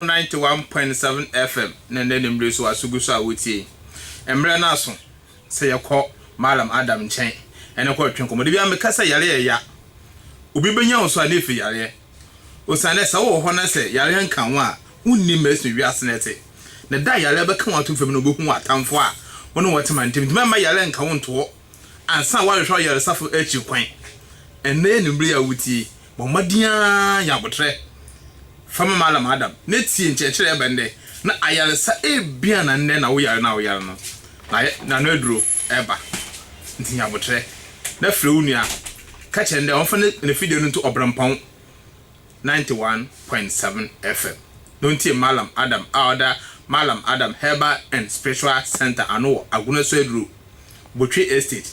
Ninety one point seven FM na ɛnnɛ anwummere so w'aso gu so a woretie yi. Mmerɛ no aso sɛ yɛkɔ Mallam Adam nkyɛn ne kɔ retwe nkɔmmɔ. Da biara meka sɛ yareɛ yɛ ya. Obi bɛnya wo so a na ɛfiri yareɛ. Osiane sɛ wowɔ hɔ na sɛ yareɛ nka wo a, wonni mma ɛsene wiase no ɛte. Na da a yareɛ bɛka wo ato fam no wobɛhu w'atamfo a wo ne wɔn te ma ntam. Ntumi mma yareɛ nka wo ntoɔ ansa na woahwehwɛ ɔyaresafo akyi kwan. Ɛnnɛ anwummere yi a woretie yi, Bɔ mbɔdzen ara nya aboterɛ fa ma Mallam Adam na tsie nkyerɛkyerɛ ebɛn dɛ na ayarsa ebien na ndɛ na wo yar no a wo yar no na n'ano eduro reba ntsi nya aboterɛ na frɛ wo nua ka kyerɛ no dɛ ɔmfa n'efidie no nto ɔberɛmpɔn ninety one point seven FM na ontsie Mallam Adam a ɔda Mallam Adam Herbal and Spiritual Centre ano wɔ Agunasuaduru, Botwe Estate,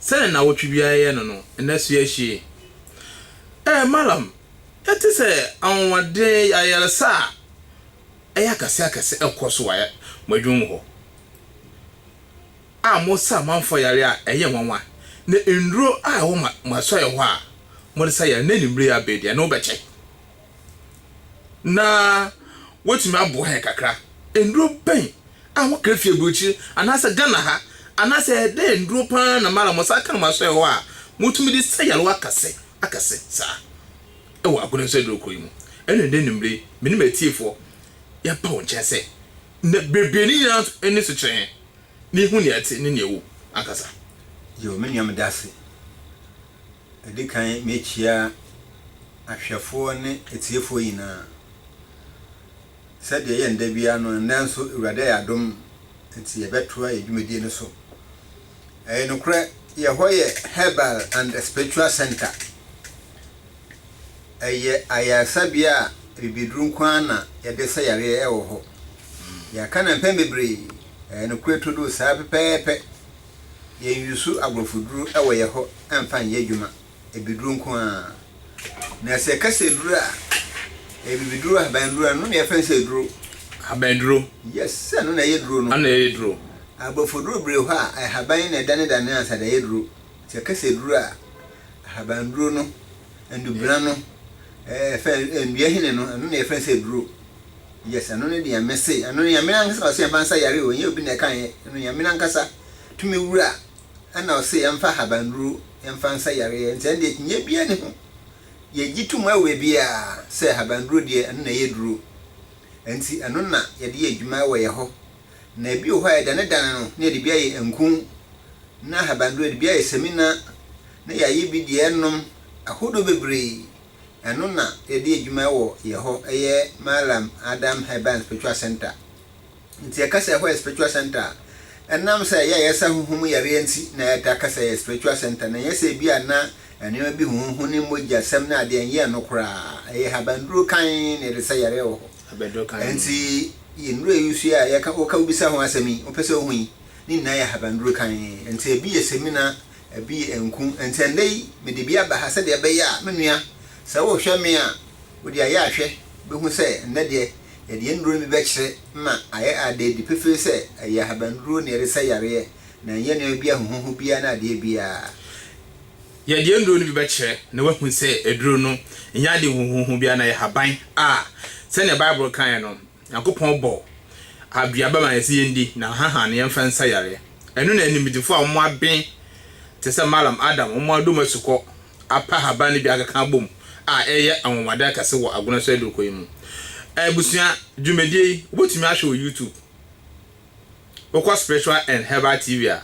sɛ nnawɔtwe biara yɛ no no, nna so ahwie. Ɛɛ, Malam, ɛte sɛ anwonwaden, ayaresa a ɛyɛ akɛseakɛse rekɔ so wɔ mo adwuma mu hɔ, a mosa amanfoɔ yareɛ a ɛyɛ nwanwa, na nnuro a ɛwɔ mo asɔeɛ hɔ a mode sa yareɛ, na anwummerɛ yi abɛn deɛ, ɛno bɛkyɛ. na woatumi aboa yɛn kakra. Nnuro bɛn a wokra fii aburokyire anaasɛ Ghana ha, anaasɛ ɛdɛn nnuro pa ara na mo ara mo nsa aka na moasɔe hɔ a motumi de sa yarewa akɛse akɛse saa wɔ Agona Nso Aduro Kurow yi mu? Ɛnna ɛnnɛ anwummere yi, me ne m'atiefoɔ, yɛaba wo nkyɛn sɛ na bebree no nyinaa nso ani so kyerɛ yɛn na yɛhu nea ɛte ne nea ɛwɔ mu ankasa. Yoo, me nua meda ase. Ɛdi kan mekyia ahwɛfoɔ ne atiefoɔ nyinaa. Sɛdeɛ ɛyɛ no da biara no, nnɛ nso Awurade ayɛ adom nti yɛbɛtoa yɛn dwumadie no so. Ɛyɛ nokorɛ yɛn hɔ yɛ Herbal and Spiritual Centre. Ɛyɛ ayaresabea a bibiduro nko ara na yɛde sa yareɛ wɔ hɔ. Yɛaka no mpɛn bebree, ɛyɛ nokorɛ trodoo saa pɛpɛɛpɛ. Yɛnwusu aborɔfoduru wɔ yɛn hɔ mfa nyɛ adwuma, abiduru nko ara. Na sɛ yɛka sɛ aduru a, ɛyɛ bibiduru, ahabanduru, ɛno na yɛfrɛ no sɛ aduro. Ahabanduro. Yes, sɛ ɛno na ɛyɛ duro no. Ɛna ɛyɛ duro. Aborɔfoduru bere hɔ a, ahaban na ɛdanedane ansa de ayɛ duro. Sɛ yɛka sɛ aduru a, ahabanduro no, ndubena no, ɛɛ, fɛ, nnua hini no, ɛno na yɛfrɛ no sɛ aduro. Yes ɛno ne deɛ mese ɛno no Nyame nankasa na ɔse yɛmfa nsa yare o ɛnyɛ obi na ɛka yɛ ɛno Nyame nankasa tumi wura ɛna ɔse yɛmfa ahabanduro yɛmfa nsa yareɛ nti ɛnde akyinnye biaa ni ho yɛgye to mu ɛwɔ biaa sɛ ahabanduro deɛ ɛno na ɛyɛ duro ɛnti ɛno na yɛde yɛ adwuma ɛwɔ yɛ hɔ na ɛbi wɔ hɔ a yɛdanedane no na yɛde bi ayɛ nku na ahabanduro yɛde bi ayɛ samina na yɛayɛ bi deɛ ɛnom ahodoɔ bebree. Ɛno na yɛde adwuma wɔ yɛ hɔ yɛ Mallam Adam Herban Spiritual Centre. Nti yɛka sɛ ɛhɔ yɛ spiritual centre a, ɛnam sɛ yɛ a yɛsa honhom yareɛ nti na yɛtaa ka sɛ ɛyɛ spiritual centre na ɛnyɛ sɛ ebia na nneɛma bi huhuhu ne mogyasɛm ne adeɛ ɛnyɛ ɛno koraa. Ɛyɛ habanduro kann na yɛde sa yareɛ wɔ hɔ. Habanduro kann. Ɛnti yɛ nnuro yi nso yi a yɛka woka wobisa ho asɛm yi, wopɛ sɛ wohu yi, ne nyinaa yɛ habanduro kann. Ɛnti ebi yɛ semina, Ɛbi yɛ nku. Enti ɛnnɛ yi mede bi aba ha sɛdeɛ ɛbɛyɛ a me nua, sɛ worehwɛ me a, wode ayɛ ahwɛ bɛhu sɛ ɛnnɛ deɛ yɛde yɛn nnuro no bi bɛkyerɛ ma ayɛ ada adi pefee sɛ ɛyɛ ahabannuro na yɛde sɛ yareɛ na ɛnyɛ nneɛma bi ahuhuhu biara ne adeɛ biara. Yɛde yɛn nnuro no bi bɛkyerɛ na woahu sɛ aduro no nyɛ ade huhuhu biara na ɛyɛ haban a sɛdeɛ Bible kaeɛ no Nyankopɔn bɔɔ aduaba ma yɛse yɛndi na ahahan no yɛmfa nsa yareɛ. Ɛno na animdefo a wɔn aben te sɛ Malam Adam wɔn adom asukɔ apa haban no bi akeka abom a ɛyɛ anwanwadeɛ kɛse wɔ Agona so adurukɔ yi mu. Abusua, dwumadie yi wobɛtumi ahwɛ wɔ YouTube. Wokɔ Spiritual and Herbal TV a,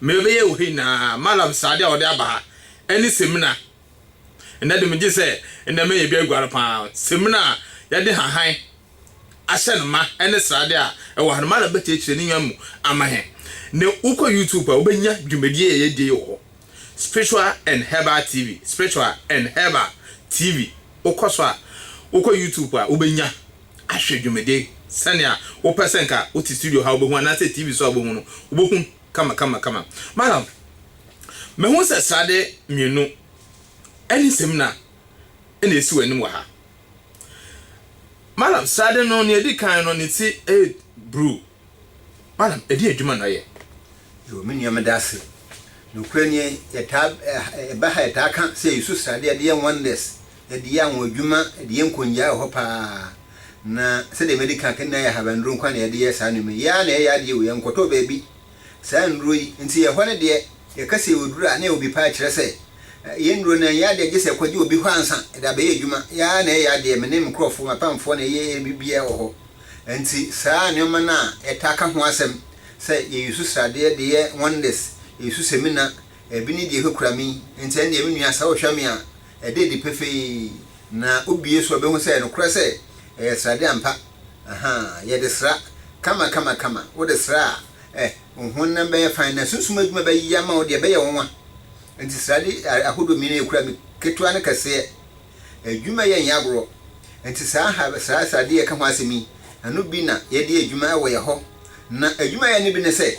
mmerɛ ɛbɛyɛ wɔ ha nyinaa Malam srade a wɔde aba ha ɛne semina Ɛnnɛ de, megye sɛ nnɛ mɛyɛ bi aguare pa ara. Samina a yɛde nhahan ahyɛ no ma ne srade a ɛwɔ ha no, Madam bɛkyerɛkyerɛ ne nnwan mu ama yɛn. Ne wokɔ YouTube a, wobɛnya dwumadie yi a yɛdie yi wɔ hɔ, Spiritual and Herbal TV, Spiritual and Herbal TV. Wokɔ so a, wokɔ YouTube a, wobɛnya ahwɛ dwumadie yi sɛnea wopɛ sɛ nka wote studio ha a wobɛhu anaasɛ TV so a wobɛhu no, wobɛhu. kama kama kama madam mehu sɛ srade mmienu ɛne samina ɛna ɛsi w'anim wɔ ha madam srade no nea ɛdi kan no ne ti ɛyɛ bruu madam ɛdi adwuma na ɔyɛ. Yoo me nua meda ase nokorɛ nie yɛtaa ɛba ha yɛtaa ka sɛ yɛsu srade ɛde yɛ wonders de yɛ anwonwadwuma, de yɛ nkongyaa wɔ hɔ paa. Na sɛdeɛ madi kan aka, nyinaa yɛ ahabannuro nko ara na yɛde yɛ saa nneɛma yi. Yɛn ara na yɛyɛ adeɛ o, yɛnkɔtɔɔ baabi saa nnuro yi. Enti ɛhɔ no deɛ, yɛka sɛ yɛwɔ duro a, na yɛwɔ bi paa, kyerɛ sɛ, yɛn nnuro no ɛnyɛ adeɛ a gye sɛ yɛkɔgye wɔ bi hɔ ansa, yɛde abɛyɛ adwuma. Yɛn ara na yɛyɛ adeɛ, me ne me nkurɔfoɔ, m'apamfoɔ na yɛyɛ biribiara wɔ hɔ. Enti saa nneɛma no a yɛtaa ka ho asɛm sɛ yɛyusu sradeɛ de yɛ wonders, yɛyusu semina, ebi ne deɛ ɛkurakura me yi, enti ɛnneɛ me nua sɛ wohwɛ me a, Ɛda adi pefee, na wobue so a wobɛhu sɛ ɛyɛ nokorɛ sɛ ɛyɛ srade ampa. Ahaa, yɛde sra, kama kama kama, wode sra a, eh, wo honam bɛyɛ fann na sunsum adwuma bɛyɛ ama wo deɛ, ɛbɛyɛ wo nwa. Enti srade ahodoɔ mmienu a yɛkura no, ketewa ne kɛseɛ, adwuma yɛ nyɛ agorɔ. Enti saa ha sra srade yi a yɛka ho asɛm yi, ɛno bi na yɛde yɛ adwuma wɔ yɛn hɔ. Na adwuma a yɛyɛ no bi ne sɛ.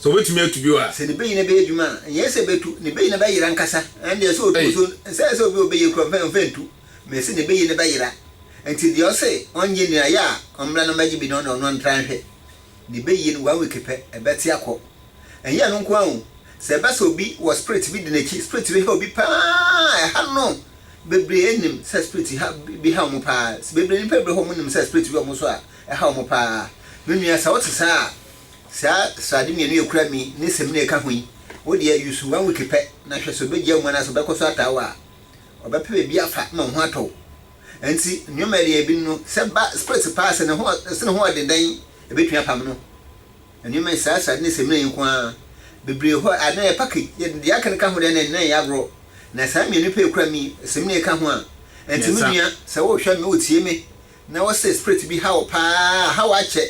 Sɛ obetumi atu bio a. Sɛ ne bɛyi no bɛyɛ adwuma a, ɛnyɛ sɛ bɛtu, ne bɛyi no bɛyera ankasa. Ɛndeɛ sɛ ɔtu nso, ɛnsɛ sɛ obi a ɔbɛyie kura ɔmfa ɔmfa ntu. Mese ne bɛyi no bɛyera. Nti deɛ ɔse ɔngye nni no, ɛyɛ a ɔmmra na ɔmmɛgye bi na ɔne ɔno ntra nhwɛ. Ne bɛyie no one week pɛ, ɛbɛte akɔ. Ɛnyɛ ɛno nko ara o, sɛ ɛba sɛ obi wɔ spirit bi di n'akyi, spirit bi ha obi pa ara a, ɛha no. Bebree nim sɛ spirit ha bi ha wɔn pa ara. Bebree, nnipa bebree wɔ hɔ a wɔnim sɛ spirit bi wɔ wɔn so a, ɛha wɔn pa ara. Me nua, sɛ wote saa a, Saa srade mmienu yi a ekura mi ne Semina a ɛka ho yi, wo deɛ yi so one week pɛ na hwɛ sɛ obegyaa mu anaasɛ ɔbɛkɔ so ataa wo a. Ɔbɛpɛ baabi afa ma wo ho atɔ wo. Enti nneɛma a ɛde yɛn bi no, sɛ ba spirits paa sɛ ne ho sɛ ne ho ɔden dɛn ebetumi apam no. Nneɛma yi, saa srade ne Semina yi nko ara. Bebree hɔ a na ɛyɛ package, yɛ deɛ aka no ka ho deɛ na ɛnyɛ agorɔ. Na saa mmienu pɛ a ekura mi, Semina a ɛka ho a, enti me nua, sɛ wohwɛ me, wotie me, Na wɔ sɛ spirit bi ha wo paa a, ha wo akyɛ,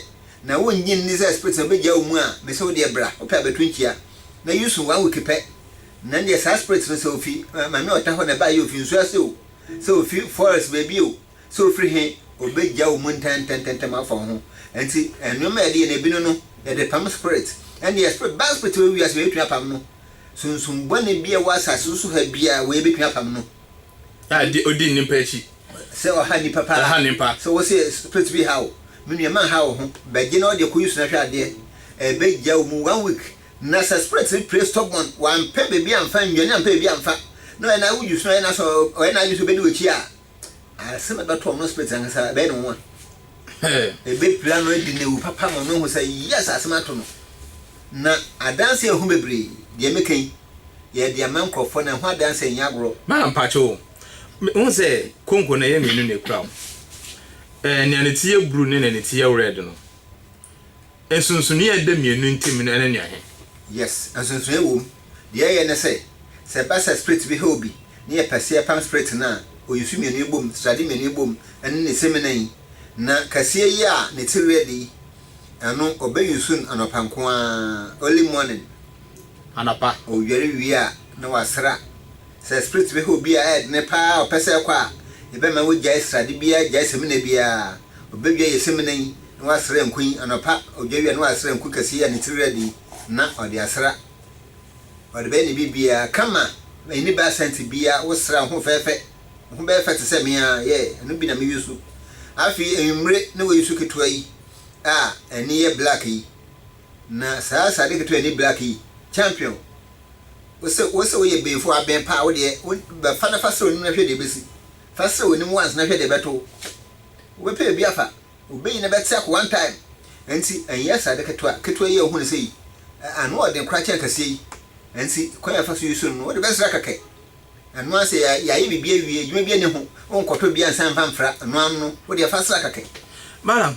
na wo nnye nni sɛ spirit no bɛgyae wo mu a, mese wo deɛ bra, wopɛ a bɛto nkyia, na use one week pɛ, na ɛndeɛ saa spirit no sɛ ofi Maame Ɔta hɔ na ɛbaeɛ o, ofi nsuo ase o, sɛ ofi forest baabi o, sɛ ofiri he, obɛgyae wo mu ntɛntɛntɛntɛm afa wo ho. Nti nnoɔma a yɛde yɛ no ebi no no, yɛde pam spirit. Ɛndeɛ spirit, bad spirit a ɛwɔ wiase wei yɛbɛtumi apam no, sunsum bɔne bi a ɛwɔ asase so ha biaa wei yɛbɛtumi apam no. A ɔdi nnipa akyi. Sɛ ɔha nnipa paa. Ɛha nnipa. Sɛ ɔwɔ sɛ spirit bi ha wo. Me nua ma nha wo ho. Bɛgye na ɔdeɛ kɔyi so na hwɛ adeɛ. Ɛbɛgya wo mu one week. Na sɛ spirit no pray stubborn, wampɛ baabi amfa nnwane ampɛ baabi amfa, na ɔyɛ na wodwi so na ɔyɛ na sɛ ɔyɛ na adwene sɛ ɔbɛdi w'akyi a, asɛm ɛbɛto ɔno spirit ankasa ɛbɛyɛ no nwa. Ɛbɛpira no adi na awu papa ma ɔno ahu sɛ yes asɛm ato no. Na adanseɛ ho bebree. Deɛ meka yi, yɛde ama nkorɔfoɔ na ɛho adanseɛ nyɛ agorɔ. Maa mpakyɛ o, Me hu sɛ konko no ɛyɛ mmienu na ekura ho. Ɛɛ nea ne ti yɛ bruu ne nea ne ti yɛ rɛd no. Nsonsonoe a ɛda mmienu ntam no ɛne no ɛhe? Yes, nsonsonoe wom. Deɛ ɛyɛ ne sɛ, sɛ ɛba sɛ spirit bi hew bi na yɛ pɛ sɛ yɛ pam spirit no a, oyisu mmienu yi bom, srade mmienu yi bom ɛne ne semina yi. Na kɛseɛ yi a ne ti rɛd yi, ɛno ɔbɛ yusu no anɔpa nko ara, early morning. Anɔpa. Ɔdware wie a na wasra. Sɛ Spirit bɛhwɛ obi a ɛyɛ dene pa ara a ɔpɛ sɛ ɛkɔ a, yɛbɛma wagyae srade biara gyae samina biara. Ɔbɛdwa yɛ samina yi na wasra nku yi anɔpa, ɔdwa wie a na wasra nku kɛseɛ yi a ne tiri rɛde yi na ɔde asra. Ɔde bɛyɛ ne biribiara kama, ɛnni bɛ asɛnte biara, wosra wo ho fɛɛfɛ, wo ho bɛyɛ fɛ te sɛ me ara, yeah, ɛno bi na me use. Afei anwummere na wayi su ketewa yi a ani yɛ black yi. Na saa sade ketewa ni black yi champion wose wose woyɛ benfo aben paa wodeɛ wo bɛ fa na fa srɛ onim na hwɛ deɛ ɛbɛsi fa srɛ onim once na hwɛ deɛ ɛbɛto wo wobɛpɛ ebi afa obeyi na bɛte ako one time ɛnti ɛnyɛ sade ketewa ketewa yi a wohu no sɛ yi ano ɔden koraa kyɛn kɛseɛ yi ɛnti kwan a ɛfa so use no no wode bɛsra kɛkɛ ɛno asɛ yɛ yɛayɛ biribi awie adwuma bi ani ho wonkɔtɔ bi ansa mfa mfra ɛno ano no wodeɛ fa sra kɛkɛ. Madam,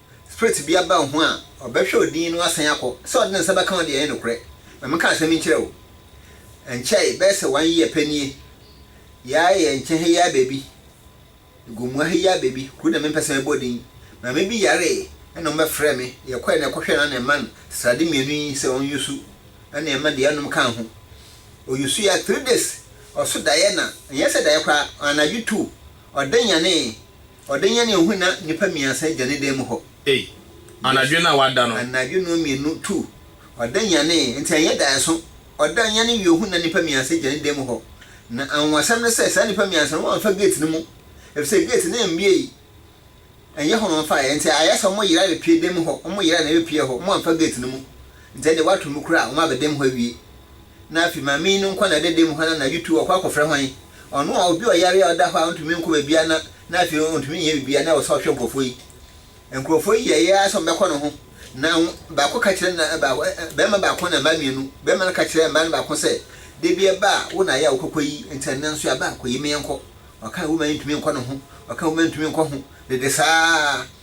Spirit bi aba wo ho a, ɔbɛhwɛ wo din no asan akɔ, sɛ ɔde ne nsa bɛka wo deɛ ɛnyɛ nokorɛ. Ma menka asɛm yi nkyerɛ wo. Ɛnkyɛe, bɛyɛ sɛ one year pɛ nie, yɛa yɛ nkyɛn ha yi ara baabi, Gomoa ha yi ara baabi, kuro na mempɛ sɛ mɛbɔ din, maame bi yaree ɛna wɔbɛfrɛɛ me, yɛkɔɛ na yɛkɔhwɛɛ no a na ɛma no srade mmienu yi sɛ ɔnyusu ɛna ɛma deɛ ɛnom kaa ho. Ɔyusuiɛ ara, three days, ɔso daeɛ na, ɛnyɛ sɛ daeɛ koraa, anadwo two, ɔde nyanee. Ɔde yɛn yɛn ho na nnipa mmiɛnsa gya ne dan mu hɔ. Ei, anadwo no a wada no. Anadwo no mmienu tu, ɔda nyanee, enti ɛnyɛ daeɛso. Ɔda yɛn yɛn ho na nnipa mmiɛnsa gya ne dan mu hɔ. Na anwanwasɛm ne sɛ, saa nnipa mmiɛnsa no, wɔamfa gate no mu, efisɛ gate no ammuei. Ɛnyɛ hɔ na wɔmfaeɛ, enti ayɛ sɛ wɔyera abɛpue dan mu hɔ, wɔyera na ɛbɛpuee hɔ, wɔamfa gate no mu. Enti ɛnde wɔato mu koraa a, wɔaba dan mu hɔ awie. Na afei ma me yi no nkɔ n'adada mu hɔ na anadwo tu ɔkɔ akɔfrɛ hwan? Ɔno a obi ɔyare a ɔda hɔ a ontumi nkɔ baabiara na na afei ontumi nyɛ biribiara na ɛwɔ sɛ ɔhwɛ nkurɔfoɔ yi. Nkurɔfoɔ yi yɛeɛ ara sɛ wɔbɛkɔ ne ho. Na baako ka kyerɛ na baako, barima baako na mmaa mmienu. Barima no ka kyerɛɛ mmaa no baako sɛ, Da bi ɛba a, wo na ayɛ a wokɔkɔ yi, enti ɛnnɛ nso yɛaba a, kɔyi me yɛnkɔ. Ɔkaa woma yi ntumi nkɔ ne ho, ɔkaa woma yi ntumi nkɔ ho, dede saa ara.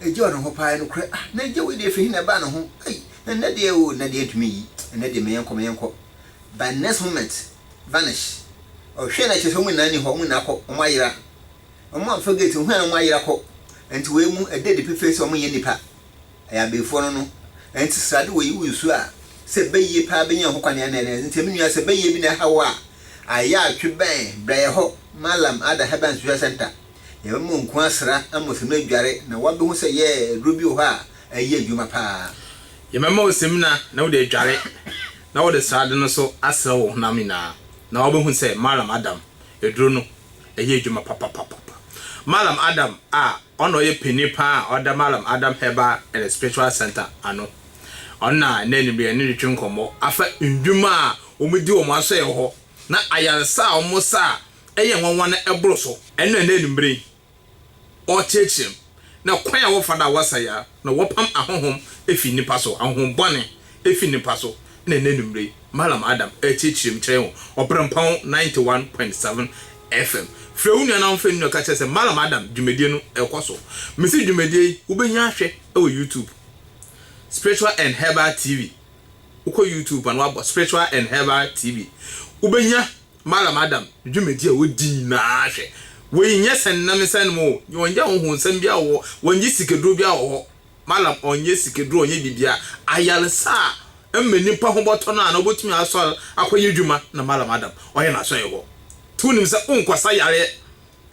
Agya ɔno ho paa nokorɛ ah na agya wei deɛ ɛfiri he na ɛbaa ne ho ei na nnɛ deɛ oo nnɛ deɛ ntumi nyi nnɛ deɛ me yɛnkɔ me yɛnkɔ by next moment vanish ɔhwɛ na kyerɛ sɛ wɔn nyinaa ni hɔ wɔn nyinaa kɔ wɔn ayera wɔn a wɔfa gate hwɛ na wɔn ayera kɔ nti wei mu ɛda adi pefee sɛ wɔn nyɛ nipa ɛyɛ abeefoɔ no no nti srade wɔ yi wo nsuo a sɛ bɛyie paa bɛnya ho kwan ɛna ɛna nti me nua sɛ bɛyie bi na ɛha wo a ayɛ atwe bɛn brɛ yɛ hɔ malam ada herbal and spiritual center Yɛbɛma mo nko asra ama osimina adware na woabehu sɛ yɛɛ aduro bi wɔ hɔ a ɛyɛ adwuma paa. Yɛbɛma osimina na wode adware na wɔde srade no nso asra wo honam nyinaa na woabehu sɛ Malam Adam aduro no ɛyɛ adwuma papapapapa. Malam Adam a ɔna ɔyɛ panin paa a ɔda Malam Adam Herbal and Spiritual Center ano. Ɔno na nnɛ anwummerɛ yɛne no retwe nkɔmmɔ afa nnwuma a wɔdi wɔn asɔeɛ hɔ na ayaresa a wɔsa a yɛ nwanwa na ɛboro so. Ɛno na ɛnnɛ anwummere yi ɔreteɛteɛ mu, na kwan a wɔfa do a wɔasa yɛ ara na wɔpam ahonhom fi nnipa so, ahonhom bɔne fi nnipa so na ɛnnɛ anwummere yi Mallam Adam reteɛteɛ mu kyerɛ yɛn wɔ Ɔberempɔn ninety one point seven FM. Frɛ wo nua na ɔmfa nnuru ka kyerɛ sɛ Mallam Adam dwumadie no rekɔ so. Mese dwumadie yi wobɛnya ahwɛ wɔ YouTube, Spiritual and Herbal TV. Wokɔ YouTube a na woabɔ Spiritual and Herbal TV, wobɛnya. Malam Adam dwumadi a odi nyinaa hwɛ. Wei nyɛ sɛ nnam nsa anom oo, wɔnyɛ ahonhonsɛm biara wɔ hɔ, wɔnye sikaduro biara wɔ hɔ. Malam ɔnyɛ sikaduro, ɔnyɛ biribiara. Ayaresa a ɛma nipa ho bɔtɔ no a na ɔbɛtumi asɔre akɔyɛ adwuma na Malam Adam ɔyɛ n'asɔre hɔ. Nti wonim sɛ wonkɔsa yareɛ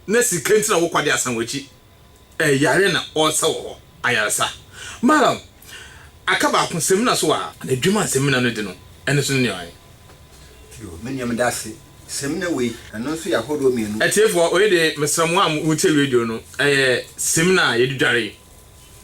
na sika nti na wokɔ de asan w'akyi. Eh, yare na ɔresa wɔ hɔ, ayaresa. Malam, aka baako, samina so a. Na adwuma a samina no di no, ɛno nso ne nea ɔyɛ. Yoo, me nua meda ase, samina wei, ɛno nso yɛ ahoroɔ mmienu. Atiefoɔ, wei deɛ mesrɛ mo a motie radio no, ɛyɛ samina a yɛde dware.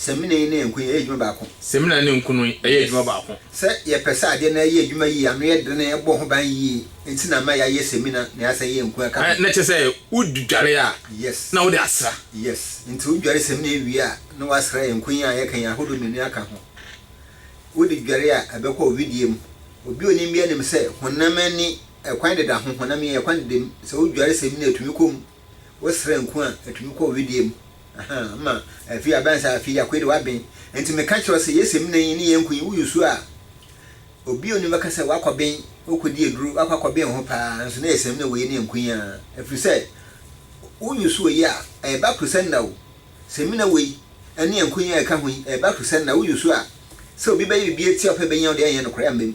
Samina yi ne nku yi yɛ adwuma baako. Samina ne nku no yɛ adwuma baako. Yes. Sɛ yɛpɛ sɛ adeɛ no yɛ adwuma yie, ano yɛ dene, ɛbɔ ho ban yie, nti na ama yɛayɛ samina na yɛasan ayɛ nku aka ho. Na kyerɛ sɛ wodware a, yes, na wode asra. Yes. Nti wodware samina yi wie a, na woasra nku yi a yɛka yi ahodoɔ mmienu yi aka ho. Wode dware a, ɛbɛkɔ wo wedeɛ mu. Obi a ɔnim biara nim sɛ honam ani ɛkwan deda ho, honam yi ɛkwan deda mu. Sɛ wodware samina a, ɛtumi kɔ mu. wosrɛ nko a etumi kɔ wedeɛ mu ahaa ma afei abɛn saa afei akoi de w'aben nti meka kyerɛ sɛ yɛsɛ mu na yi ne yɛn nko yi woyi su a obi oni bɛka sɛ wakɔ ben wokɔ di aduro wakɔ akɔ ben ho paa nso na yɛsɛ mu na woyi ne yɛn nko yi a ɛfiri sɛ woyi su oyi a ɛba kurusɛ nna o sɛ mu na woyi ɛne yɛn nko yi a ɛka ho yi ɛba kurusɛ nna woyi su a sɛ obi bɛyɛ biribi atia ɔpɛ bɛnya ɔde ɛnyɛ no korɛ ambam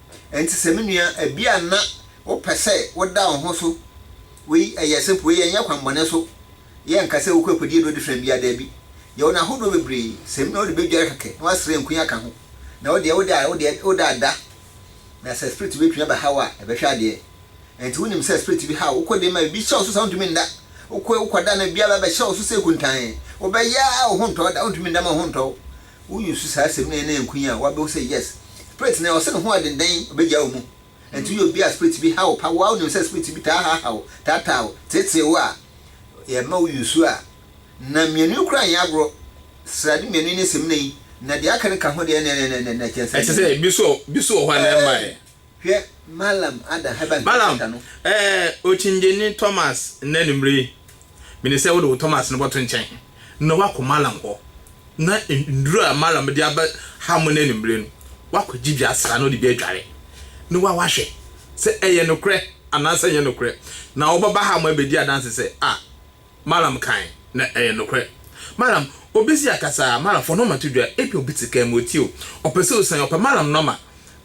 Enti sɛ me nua, ebia na wopɛ sɛ woda wo ho so wei, ɛyɛ simple, wei ɛnyɛ kwammɔne so, yɛnka sɛ wokɔ akodi aduro different biara, daabi, yɛwɔ no ahodoɔ bebree, sɛ me nua wode bɛdware kɛkɛ na woasra nkui aka ho, na wodeɛ wode a wodeɛ woda ada, na sɛ spirit bi bɛtumi abɛha wo a, ɛbɛhwɛ adeɛ. Enti wonim sɛ spirit bi ha wo, wokɔ de ma, ebi hyɛ wo so saa wontumi nda, wokɔ wokɔda na ebi aba abɛhyɛ wo so sɛ kuntann, wobɛyɛ ara wo ho ntɔ wo da, wontumi nda ma wo ho ntɔ wo. Wonyi so saa asɛm no yɛ na ɛnko yi a wabehu sɛ yes spirit no ɔse ne ho ɛdendan ɔbɛgyaa wo mu ɛnti woyɛ obi a spirit bi ha wo pa woa wonim sɛ spirit bi taa haahaa wo taataa wo teetee wo a yɛ ma wo yusu a na mmienu yi koraa nyɛ agorɔ srade mmienu yi ne semina yi na deɛ aka no ka ho deɛ ɛnɛnɛnɛnɛnɛ kyɛnsee ɛte sɛ bi so bi so wɔ hɔ a na ɛmma yɛ. Hwɛ Malam Ada Heba Malam, Nkɛntɛnta no. Eh, Okyingyeni Thomas, nnɛ anwummere yi, minim sɛ wode wo Thomas no bɛto nkyɛn na woakɔ Malam hɔ, na nnuru a Malam de aba ha mo nnɛ anwummere no, woakɔgye bi asra na wode bi adware, na woa woahwɛ sɛ ɛyɛ nokorɛ anaasɛ ɛnyɛ nokorɛ, na wobɛba ha mo abɛdi adanse sɛ, ah. Malam kae no yɛ nokorɛ. Malam, obi si akasa a, Malam, fɔ nɔma to dwa. Ebia obi te kaa mu, ɔretie wo. Ɔpɛ sɛ ɔsiane, ɔpɛ Malam nɔma.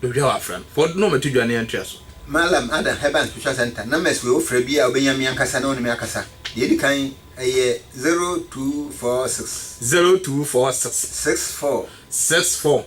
Baabiara a wafra no, fɔ nɔma to dwa na yɛntoa so. Malam, Adan Herbal and Spiritual Centre, numbers wei, wofrɛ biara a, wobɛnya me ankasa na wo ne me akasa. Deɛ ɛdi kan, ɛyɛ zero two four six. Zero two four six. Six four. Six four.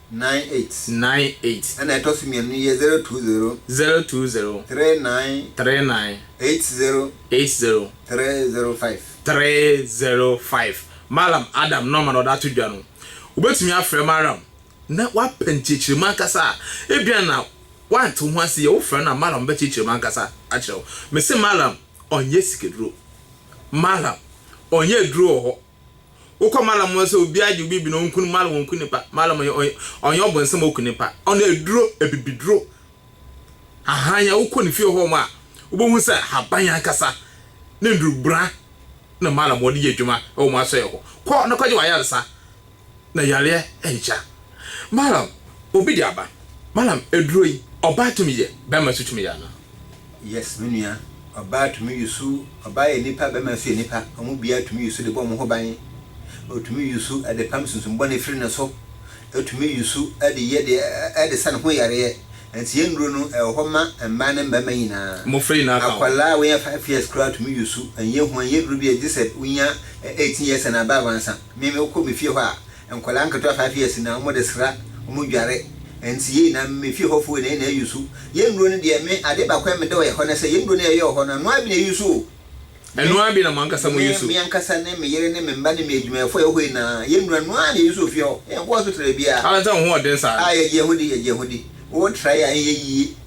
Nine eight. Nine eight. Ɛna ɛtɔ so mmienu no yɛ zero two zero. Zero two zero. Three nine. Three nine. Eight zero. Eight zero. Three zero five. Three zero five. Mallam Adam nɔma na ɔde ato dwa no. Wobɛtumi afrɛ Mallam na wapɛ nkyerɛkyerɛmu ankasa a, ebia na woante wo ho ase yie. Wofrɛ no a, Mallam bɛkyerɛkyerɛ mu ankasa akyerɛ wo. Mese Mallam ɔnyɛ sikaduro. Mallam ɔnyɛ aduro wɔ hɔ. Wokɔ Malam mu sɛ obi agye obi bi na ɔnku no, Malam ɔnku nipa. Malam ɔnyɛ ɔnyɛ ɔnyɛ ɔbonsam ɔku nipa. Ɔno aduro, abibiduro. Ahan a wokɔ ne fie hɔ nom a wobɛhu sɛ haban ankasa ne nnurubra na Malam ɔde yɛ adwuma wɔ wɔn asɔeɛ hɔ. Kɔ na kɔgye w'ayaresa. na yareɛ nhyɛ a, Malam, obi de aba. Malam, aduro yi, ɔbaa tumi yɛ, bɛrima nso tumi yɛ anaa? Yes, me nua. Ɔbaa tumi yusu. Ɔbaa yɛ nipa, bɛrima nso yɛ nipa. Wɔn biara tumi yusu de bɔ wɔn ho ban. Ɔtumi yusu de pam sunsum bɔne firi ne so. Ɔtumi yusu de yɛ deɛ ɛde sa ne ho yareɛ. Nti yɛn nnuro no, ɛwɔ hɔ ma mmaa ne mmarima nyinaa. Mmofra nyinaa ka ho. Akwadaa a wɔnyɛ five years koraa tumi yusu. Ɛnyɛ hu, ɛnyɛ aduro biara, gyesɛ wonya eighteen years and above ansa. Me mekɔ me fie hɔ a nkwadaa nketewa five years na wɔn de sra wɔn dware nti yei na me fie hɔ foɔ nyinaa ayusu yɛn nnuro no deɛ me adeɛ baako a mede wɔ hɔ ne sɛ yɛn nnuro no yɛyɛ wɔ hɔ no ɛno ara bi na ɛyusu o me ɛno ara bi na mo ankasa mo yusu me ankasa ne me yere ne me mma ne me adwumayɛfoɔ a yɛwɔ hɔ nyinaa yɛn nnuro ɛno ara na yɛyusu wɔ fie hɔ yɛn nkɔ hospital da biara. Adɛn nti na wo ho wɔ den saa? Ah yɛgye yɛn ho di yɛgye yɛn ho di wotra yɛ a ɛnyɛ yie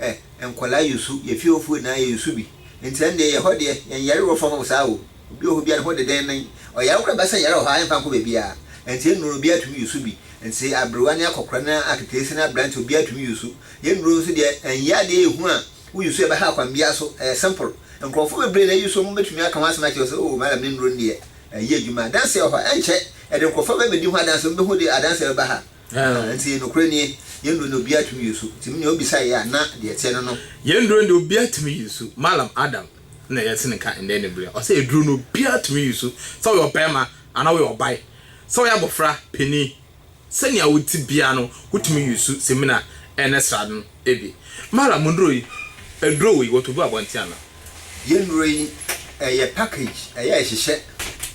eh Nkwadaa yɛ su, yɛ fiewofo nyinaa yɛ su bi Nti ɛndeɛ yɛ hɔ deɛ, yɛn yare wɔ fam saa o Obi wɔ hɔ biara ne ho dedennennen Ɔyare koraa bɛsa yare wɔ hɔ a ɛmfa nkɔ baabiara Ɛnti nnuro no obiara tumi yɛ su bi Nti aberewa ne akɔkora ne aketeesi ne aberanteɛ obiara tumi yɛ su Yɛ nnuro nso deɛ ɛnyɛ adeɛ yɛ hu a woyi su a ɛbɛha kwan biara so Ɛyɛ simple Nkorɔfoɔ bebree na ɛyi su wɔn bɛtumi aka ho asɛm akyerɛ wo sɛ oh madam ne nnuro no deɛ ɛyɛ adwuma Adanseɛ wɔ hɔ a ɛnkyɛ ɛde nkorɔfoɔ bɛbɛdi ho adanseɛ wɔn bɛhu de adanseɛ bɛba ha Aane, enti nokorɛ nie, yɛn duro ne obiara tumi yi nsu, enti menea ɔbisa yɛ a, na deɛ ɛteɛ ne no. Yɛn duro deɛ obiara tumi yi nsu, Mallam Adam na yɛte ne nka nnɛ ne berɛ, ɔse aduro no obiara tumi yi nsu, sɛ woyɛ ɔbarima anaa woyɛ ɔban, sɛ woyɛ abɔfra, panin, sɛnea wote biara no, wotumi yi nsu, semina, ɛne srade no. Ebi. Mara mo nnuro yi, aduro wei wɔtɔ gu abɔnten ana? Yɛn nnuro yi, ɛyɛ package, ɛyɛ ɛhyehyɛ,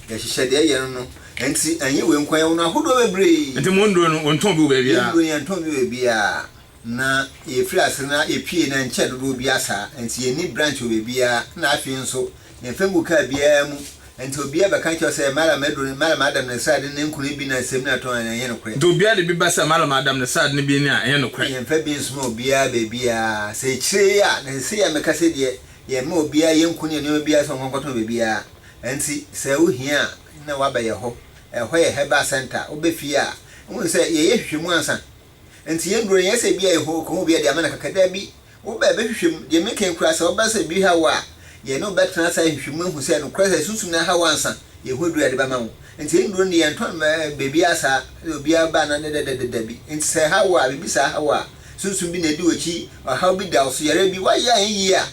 yɛhyehyɛ deɛ ɛyɛ no no, ɛnti ɛnyɛ wei nko, yɛwɔ no ahodoɔ bebree. Ɛnti mo nnuro no, wɔntɔn bi wɔ baabiara? Yɛn nnuro yi, yɛntɔn bi wɔ baabiara, na yɛfiri ase no, ɛpue no ɛnkyɛ dodoɔ biara saa, ɛnti yɛnni branch wɔ baabiara, ɛna afei nso. Ne mfe ngu kaa biara mu. Enti obiara bɛka akyerɛ wo sɛ Mallam adu ne Mallam Adam ne srade ne nkron bi ne asɛm no a ɛtɔ anaa ɛnyɛ nokorɛ. Enti obiara de bi ba sɛ Mallam Adam ne srade no bi ne a ɛnyɛ nokorɛ. Yɛmfa bi nsoma obiara baabiara. Sɛ akyire yi a na ɛsɛ sɛ yɛn meka sɛ deɛ yɛmma obiara yɛnku ne nneɛma biara sɛ ɔnkɔ nkɔtɔn baabiara. Enti sɛ wo hia a na woaba yɛhɔ. Ɛhɔ yɛ herbal centre. Wobɛ fie a. Wohunu sɛ yɛyɛ nhwehwɛmu ansa Enti yɛn duro no, nyɛ sɛ ebia yɛ hɔ, kɔn obi a, deɛ ama no kaka. Dabi, wo bɛ, bɛhwehwɛ mu. Deɛ meka yi koraa, sɛ ɔba sɛ biribi ha wo a, yɛn ne wo bɛtena ase ahwehwɛ mu ahu sɛ nokorɛ sɛ sunsum no aha wo ansa yɛn ho aduru a yɛde bɛma wo. Enti yɛn duro no deɛ, yɛntɔn no baabiara saa, sɛdeɛ obiara ba anaa dɛdɛdɛdɛ, dabi. Enti sɛ ɛha wo a, biribi saa ha wo a, sunsum bi na adi w'akyi, ɔhaw bi da wo so, yareɛ bi, woayɛ anyɛ yie a,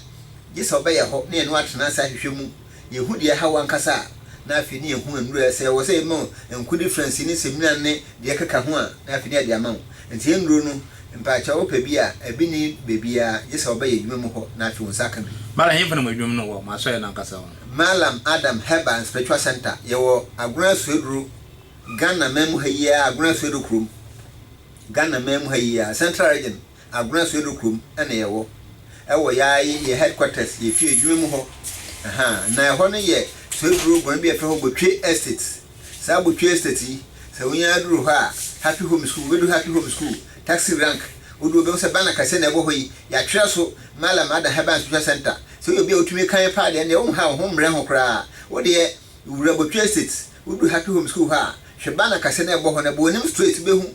gye sɛ wobɛyɛ hɔ na yɛne wo atena ase ahwehwɛ mu. Yehu deɛ ɛha wo ankasa a, na afei ne yɛhu nnuro a sɛ ɛwɔ sɛ yɛma wo nko difference ne sɛmina ne deɛ ɛkeka ho a, na afei ne yɛde ama wo. Nti nnuro no, mpaakyɛw wopɛ bi a, ɛbi nni baabiara gye sɛ wobɛyɛ adwuma mu hɔ na afei wo nsa aka bi. Mallam, Ɛhefa na mo adwuma mu no wɔ, mo asɔre no ankasa hɔ? Mallam Adam Herbal and Spiritual Centre, yɛwɔ Agona Asuaduro, Ghana man mu ha yi ara, Agona Asuaduro kurom, Ghana man mu ha yi ara, Central Region. Agorɛ Sodo kurom na yɛwɔ wɔ yaa yi yɛ headquarters yɛ fie adwuma mu hɔ ahaa na ɛhɔ no yɛ Soeduro guan bi a ɛfrɛ hɔ Botwe Estate saa Botwe Estate yi sɛ wonya aduru hɔ a Happy Home School wobɛdu Happy Home School taxi rank wodu wobɛhu sɛ banner kɛseɛ na ɛwɔ hɔ yi yɛatwerɛ so Mallam Adam Herbal and Spiritual Centre sɛ woyɛ obi a wotumi kan paa deɛ ɛnneɛ wonha wo ho mmrɛ ho koraa wodeɛ wura Botwe Estate wodu Happy Home School hɔ a hwɛ banner kɛseɛ na ɛbɔ hɔ no ɛbɔ w'anim straight wobɛhu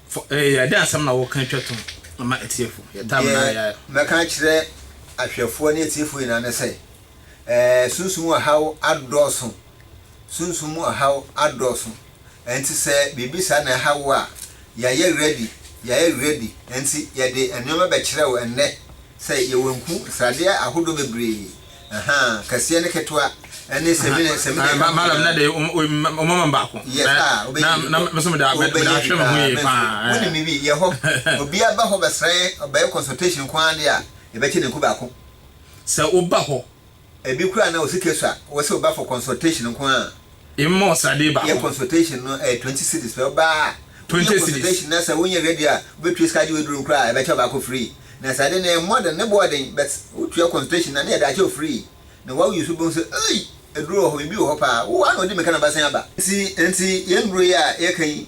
Fo, eh, yɛ, dɛn asɛm na woreka twa to ma atiefo? Yɛ tam Deɛ na yɛ. mɛka akyerɛ ahwɛfoɔ ne atiefo nyinaa ne sɛ, eh, sunsum mu ɔhaw adɔɔso, sunsum mu ɔhaw adɔɔso, ɛnti sɛ biribi saa na ɛha wo a, yɛayɛ ready, yɛayɛ ready, ɛnti yɛde nnoɔma bɛkyerɛ wo ɛnnɛ, Sɛ yɛwɔ nku, sradeɛ ahodoɔ bebree, ahaa, kɛseɛ ne ketewa, ɛne sɛmina, sɛmina ɛka ho nyinaa. Madam, na de wɔn ama baako. Yes, ah, wobɛyɛ bi paa. Na mɛsɛ mede ahwɛ me ho yie paa. Wonim biribi, yɛ hɔ. Obi aba hɔ bɛsrɛ, ɔbɛyɛ consultation nko ara deɛ a, yɛbɛkyɛ no nku baako. Sɛ woba hɔ Ebi koraa na wo sika sua, wo se wo ba for consultation nko a. Mmɔ sradeɛ baako. Yɛ consultation no ɛyɛ twenty cedis pɛ, wo ba a. Twenty cedis. Wo yɛ consultation na sɛ wo nyɛ ready a, wo bɛ tua sika agye wo aduro no koraa a, yɛ bɛ kyɛ wo baako free. Na sradeɛ no ɛmmɔ den, ne bo ɔden, but wo tua consultation na na yɛ de akyɛ wo free. Na wa use wo bɛ hu sɛ eii! Aduro wɔ hɔ, biribi wɔ hɔ paa, wo a na ɔdi mirika na ɔbɛsan aba. Nti, nti, yɛn duro yi a yɛ ka yi,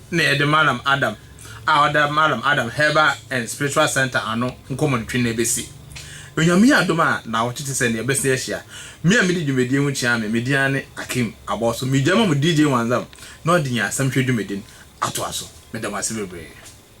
na yɛde Mallam Adam a ɔda Mallam Adam Herbal and Spiritual Centre ano nkɔmmɔdetwe na ɛbɛsi. Onyame adom a, nnawɔtwe te sɛ nea ɛbɛsi yɛahyia. Me a medi dwumadie ho kyia me, me din ara ne Akim Abɔso. Megya ma mo DJ Wanzam na ɔde yɛn asɛmhwɛ dwumadi no atoa so. Meda mo ase bebree.